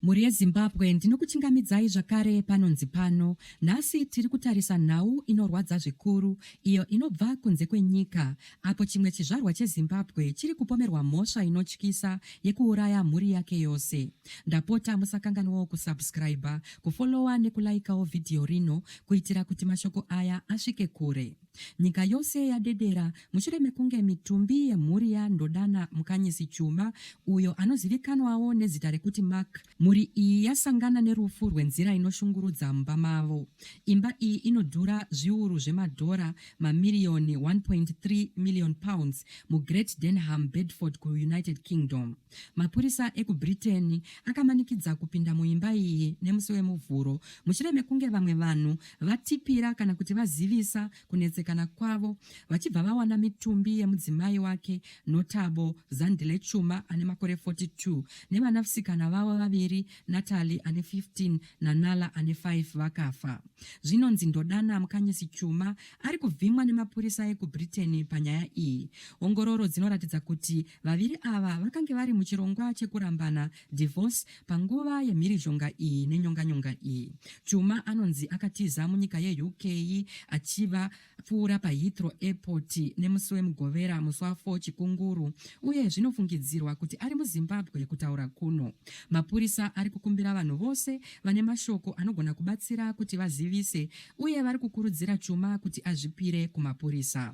Mhuri yeZimbabwe ndinokuchingamidzai zvakare panonzi pano. Nhasi tiri kutarisa nhau inorwadza zvikuru iyo inobva kunze kwenyika apo chimwe chizvarwa cheZimbabwe chiri kupomerwa mhosva inotyisa yekuuraya mhuri yake yose. Ndapota musakanganwawo kusubscriber, kufollower nekulaikawo vhidhiyo rino kuitira kuti mashoko aya asvike kure. Nyika yose yadedera mushure mekunge mitumbi yemhuri yaNdodana Mukanyisi Chuma, uyo anozivikanwawo nezita rekuti Mark, mhuri iyi yasangana nerufu rwenzira inoshungurudza mumba mavo. Imba iyi inodhura zviuru zvemadhora, mamiriyoni 1.3 million pounds, muGreat Denham, Bedford, kuUnited Kingdom. Mapurisa ekuBritain akamanikidza kupinda muimba iyi nemusi weMuvhuro mushure mekunge vamwe vanhu vatipira kana kuti vazivisa kunetsekana kwavo vachibva vawana mitumbi yemudzimai wake Notabo Zandile Chuma ane makore 42 nevanasikana vavo vaviri Natalie ane 15 naNala ane 5 vakafa. Zvinonzi Ndodana Mukanyisi Chuma ari kuvhimwa nemapurisa ekuBritain panyaya iyi. Ongororo dzinoratidza kuti Vaviri ava vakange vari muchirongwa chekurambana, divorce, panguva yemhirizhonga iyi nenyonganyonga iyi. Chuma anonzi akatiza munyika yeUK achiva pfuura paHeathrow Airport nemusi weMugovera musi wa 4 Chikunguru uye zvinofungidzirwa kuti ari muZimbabwe kutaura kuno. Mapurisa ari kukumbira vanhu vose vane mashoko anogona kubatsira kuti vazivise uye vari kukurudzira Chuma kuti azvipire kumapurisa.